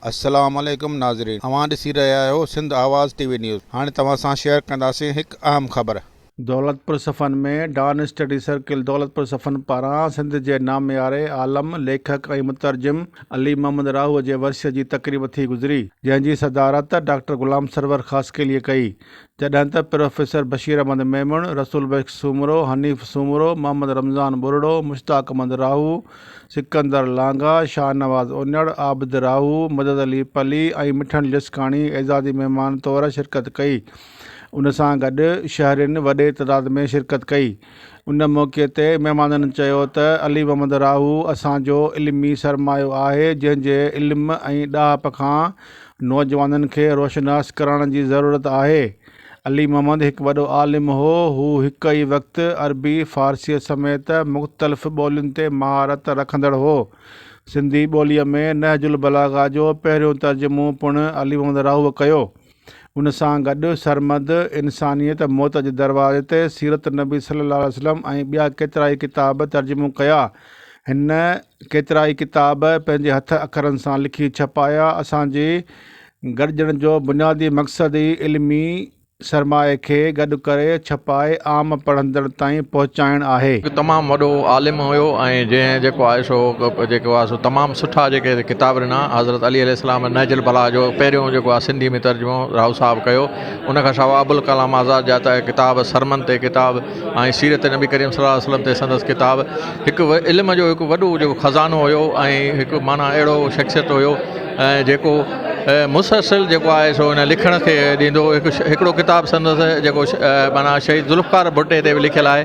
السلام عليڪم ناظرين اوهان ڏسي رهيا آهيو Sindh Awaz T V news هاڻي توهان سان شيئر ڪنداسين هڪ اهم خبر. Daulatpur Safan ۾ Dawn study circle Daulatpur Safan پاران سنڌ جي نامياري عالم، ليکڪ ۽ مترجم علي محمد راهوء جي ورسيء جي تقريب ٿي گذري، جنهن جي صدارت ڊاڪٽر غلام سرور خاصخيليء ڪئي. جڏهن ته پروفيسر بشير احمد ميمڻ، رسول بخش سومرو، حنيف سومرو، محمد رمضان ٻرڙو، مشتاق احمد راهو، سڪندر لانگاهه، شاهنواز اونڙ، عابد راهو، مدد علي پلي ۽ مٺڻ لسڪاڻي اعزازي مهمان طور شرڪت ڪئي. ان سان گڏ شهرين وڏي تعداد ۾ شرڪت ڪئي. ان موقعي تي مهمانن چيو ته علي محمد راهو اسان جو علمي سرمايو آهي جنهن جي علم ۽ ڏاهپ کان نوجوانن کي روشناس ڪرڻ جي ضرورت آهي علي محمد هڪ وڏو عالم هو هو هڪ ئي وقت عربي فارسيء سميت مختلف ٻولين تي مهارت رکندڙ هو سنڌي ٻوليء ۾ نهج البلاغه جو پهريون ترجمو پڻ علي محمد راهوء ڪيو ان سان گڏ سرمد انسانيت موت جي دروازي تي سيرت نبي صلي الله عليه وسلم ۽ ٻيا ڪيترائي ڪتاب ترجمو ڪيا. هن ڪيترائي ڪتاب پنهنجي هٿ اکرن سان لکي ڇپايا. اسان جي گڏجڻ جو بنيادي مقصد ئي علمي سرمايي کي گڏ ڪري ڇپائي عام پڙهندڙ تائين پهچائڻ آهي. هڪ تمام وڏو عالم هيو ۽ جنهن جيڪو آهي سو جيڪو آهي سو تمام سٺا جيڪي ڪتاب ڏنا حضرت علي عليه السلام ۽ نهج البلاغه جو پهريون جيڪو آ سنڌي ۾ ترجمو راء صاحب ڪيو ان کان سواء ابوالڪلام آزاد جا ته ڪتاب سرمن تي ڪتاب ۽ سيرت نبي ڪريم صلي الله عليه وسلم تي سندس ڪتاب هڪ علم جو هڪ وڏو جو خزانو هيو ۽ هڪ معنيٰ اهڙو شخصيت هيو ۽ جيڪو مسلسل جيڪو آهي سو هن لکڻ کي ڏيندو هڪ هڪڙو ڪتاب سندس جيڪو معنيٰ شهيد ذوالفقار ڀٽي تي به لکيل آهي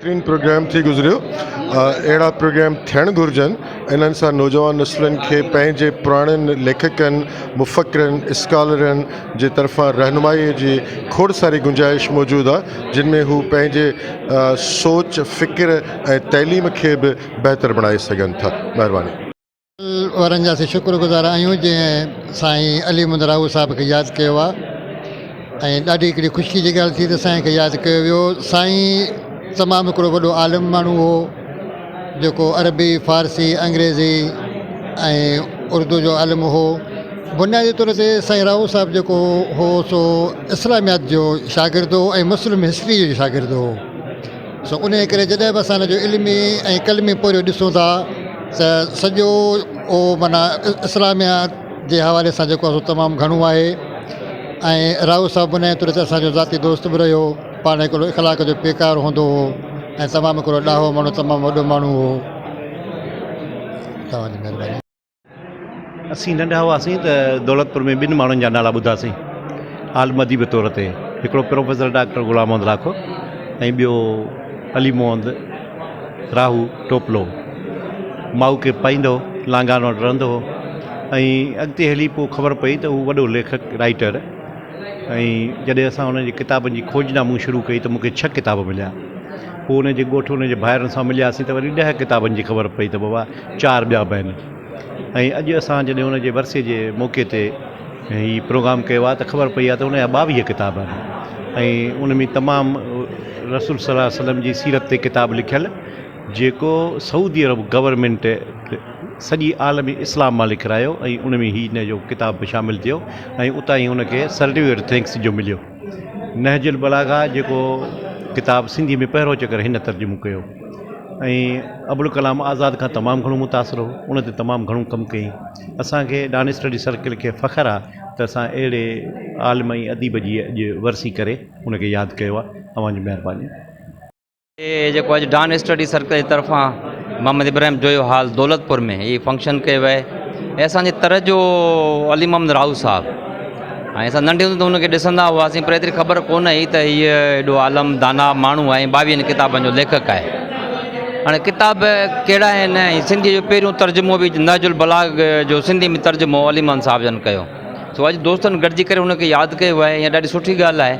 بهترين پروگرام ٿي گذريو اهڙا پروگرام ٿيڻ گهرجن انهن سان نوجوان نسلن کي پنهنجي پراڻن ليکڪن مفڪرن اسڪالرن جي طرفان رهنمائي جي کوڙ ساري گنجائش موجود آ جن ۾ هو پنهنجي سوچ فڪر ۽ تعليم کي به بهتر بڻائي سگهن ٿا مهرباني. وارن جا اسين شڪر گذار آهيون جنهن سائين علي محمد راهوء صاحب کي ياد ڪيو آهي ۽ ڏاڍي هڪڙي خوشي جي ڳالهه ٿي ته سائين کي ياد ڪيو ويو سائين تمام هڪڙو وڏو عالم ماڻهو هو جيڪو عربي فارسي انگريزي ۽ اردو جو عالم هو بنيادي طور تي سائين راهوء صاحب جيڪو هو سو اسلاميات جو شاگرد هو ۽ مسلم هسٽري جو شاگرد هو سو انهيء ڪري جڏهن به اسان هن جو علمي ۽ قلمي پورهيو ڏسون ٿا ته سڄو اهو معنيٰ اسلاميات جي حوالي سان جيڪو آهي سو تمام گهڻو آهي ۽ راهو صاحب بنهه طور تي اسان جو ذاتي دوست به رهيو پاڻ هڪڙو اخلاق جو پيڪار هوندو هو ۽ تمام هڪڙو ڏاهو ماڻهو تمام وڏو ماڻهو هو اسين ننڍا هئاسين ته دولتپور ۾ ٻن ماڻهن جا نالا ٻڌاسين عالم اديب طور تي هڪڙو پروفيسر ڊاڪٽر غلام محمد لاکو ۽ ٻيو علي محمد راهو ٽوپلو مائو کي پائيندو لانگان وٽ رهندو هو ۽ اڳتي هلي پوء خبر پئي ته هو وڏو ليکڪ رائيٽر ۽ جڏهن اسان هن جي ڪتابن جي کوج نامون شروع ڪئي ته مونکي ڇهه ڪتاب مليا پوء هن جي ڳوٺ هن جي ڀائرن سان ملياسين ته وري ڏهه ڪتابن جي خبر پئي ته بابا چار ٻيا به آهن ۽ اڄ اسان جڏهن ان جي ورسي جي موقعي تي هي پروگرام ڪيو آهي ته خبر پئي آهي ته ان جا ٻاويهه ڪتاب آهن ۽ ان ۾ تمام رسول صلّي الله عليه وسلّم جي سيرت تي ڪتاب لکيل جيڪو سعودي عرب گورنمينٽ سڄي عالم اسلام مان لکرايو ۽ ان ۾ هي ان جو ڪتاب به شامل ٿيو ۽ اتان ئي ان کي سرٽيفڪيٽ ٿينڪس جو مليو نهج البلاغه جيڪو ڪتاب سنڌي ۾ پهريون چڪر هن ترجمو ڪيو ۽ ابوالڪلام آزاد کان تمام گهڻو متاثر هو ان تي تمام گهڻو ڪم ڪيائين اسانکي ڏانهن اسٽڊي سرڪل کي فخر آ ته اسان اهڙي عالم ۽ اديب جي اڄ ورسي ڪري ان کي ياد ڪيو آ اوهان جي مهرباني هي جيڪو اڄ ڊان اسٽڊي سرڪل جي طرفان محمد ابراهيم جويو هال دولتپور ۾ هي فنڪشن ڪيو ويو هي اسانجي تر جو علي محمد راهو صاحب ۽ اسان ننڍي هوندي ته هن کي ڏسندا هئاسين پر ايتري خبر ڪونه هئي ته هي ايڏو عالم دانا ماڻهو آهي ٻاويهن ڪتابن جو ليکڪ آهي هاڻي ڪتاب ڪهڙا آهن سنڌي جو پهريون ترجمو به نهج البلاغ جو سنڌي ۾ ترجمو علي محمد صاحب جن ڪيو سو اڄ دوستن گڏجي ڪري ان کي ياد ڪيو آهي ۽ ڏاڍي سٺي ڳالهه آهي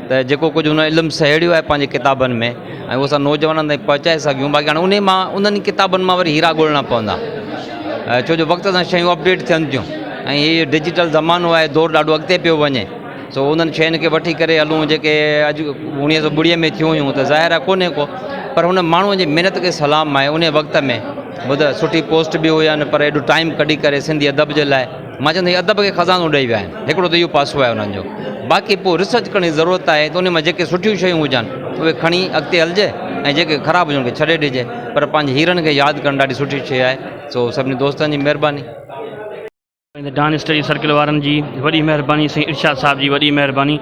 ته جيڪو ڪجهه هن علم سهيڙيو آهي پنهنجي ڪتابن ۾ ۽ اهو اسان نوجوانن تائين پهچائي سگهيون باقي هاڻي انهي مان انهن ئي ڪتابن مان وري هيرا ڳولڻا پوندا ڇو جو وقت سان شيون اپڊيٽ ٿين ٿيون ۽ هي ڊجيٽل زمانو آهي دور ڏاڍو اڳتي پيو وڃي سو انهن شين کي وٺي ڪري هلون جيڪي اڄ اڻيوي سو ٻڙي ۾ ٿيون هيون ته ظاهر آهي ڪونهي ڪو پر هن ماڻهوء جي محنت کي سلام آهي انهي وقت ۾ ٻڌ سٺي پوسٽ به هيا پر ايڏو ٽائيم ڪڍي ڪري سنڌي ادب جي لاء مان چوندو هي ادب کي خزانو ڏئي ويا آهن هڪڙو ته اهو پاسو آهي انهن جو باقي پوء ريسرچ ڪرڻ جي ضرورت آهي ته ان ۾ جيڪي سٺيون شيون هجن اهي کڻي اڳتي هلجي ۽ جيڪي خراب هجن ان کي ڇڏي ڏجي پر پنهنجي هيرن کي ياد ڪرڻ ڏاڍي سٺي شيء آهي سو سڀني دوستن جي مهرباني. ڊان اسٽڊي سرڪل وارن جي وڏي مهرباني سائين ارشاد صاحب جي وڏي مهرباني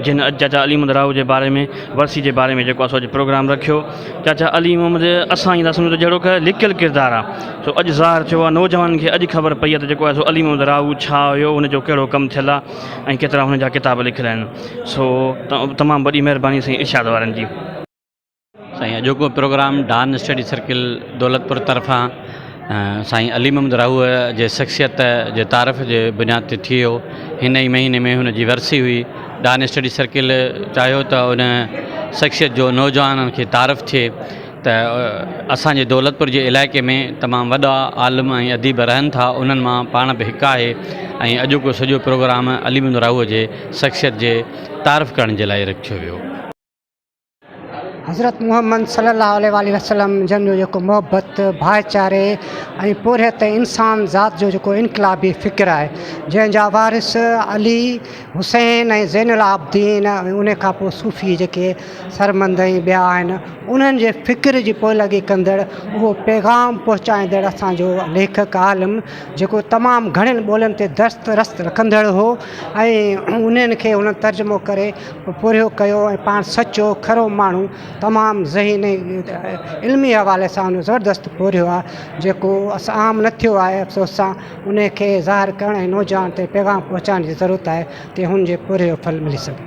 جن اڄ چاچا علي محمد راهو جي باري ۾ ورسي جي باري ۾ جيڪو اسو اڄ پروگرام رکيو چاچا علي محمد اسان جي لاء سمجهو ته جهڙوڪ لڪيل ڪردار آهي سو اڄ ظاهر ٿيو آهي نوجوانن کي اڄ خبر پئي آهي ته جيڪو آهي سو علي محمد راهو ڇا هيو ان جو ڪهڙو ڪم ٿيل آهي ۽ ڪيترا هن جا ڪتاب لکيل آهن سو تمام وڏي مهرباني سائين ارشاد وارن جي. سائين اڄوڪو programme Dawn study circle Daulatpur طرفان سائين علي محمد راهوء جي شخصيت جي تعارف جي بنياد تي ٿيو هن ئي مهيني ۾ هن جي ورسي هئي ڊان اسٽڊي سرڪل چاهيو ته ان شخصيت جو نوجوانن کي تعارف ٿئي ته اسان جي دولتپور جي علائقي ۾ تمام وڏا عالم ۽ اديب رهن ٿا انهن مان پاڻ به هڪ آهي ۽ اڄوڪو سڄو پروگرام علي محمد راهوء جي شخصيت جي تعارف ڪرڻ جي لاء رکيو ويو. حضرت محمد صلي الله عليه واٰله وسلم جن جو جيڪو محبت، ڀائيچاري ۽ پورهيت انسان ذات جو جيڪو انقلابي فڪر آهي جنهن جا وارث علي، حسين ۽ زين العابدين ۽ ان کان پوء صوفي جيڪي سرمند ۽ ٻيا آهن انهن جي فڪر جي پوئلڳي ڪندڙ اهو پيغام پهچائيندڙ اسان جو ليکڪ عالم جيڪو تمام گهڻين ٻولين تي درست رست رکندڙ هو ۽ انهن کي هن ترجمو ڪري پورهيو ڪيو ۽ پاڻ سچو کرو ماڻهو تمام ذهين ۽ علمي حوالي سان زبردست پورهيو آهي جيڪو عام نه ٿيو آهي افسوس سان ان کي ظاهر ڪرڻ ۽ نوجوانن تائين پيغام پهچائڻ جي ضرورت آهي تي هن جي پورهيي جو ڦل ملي سگهي.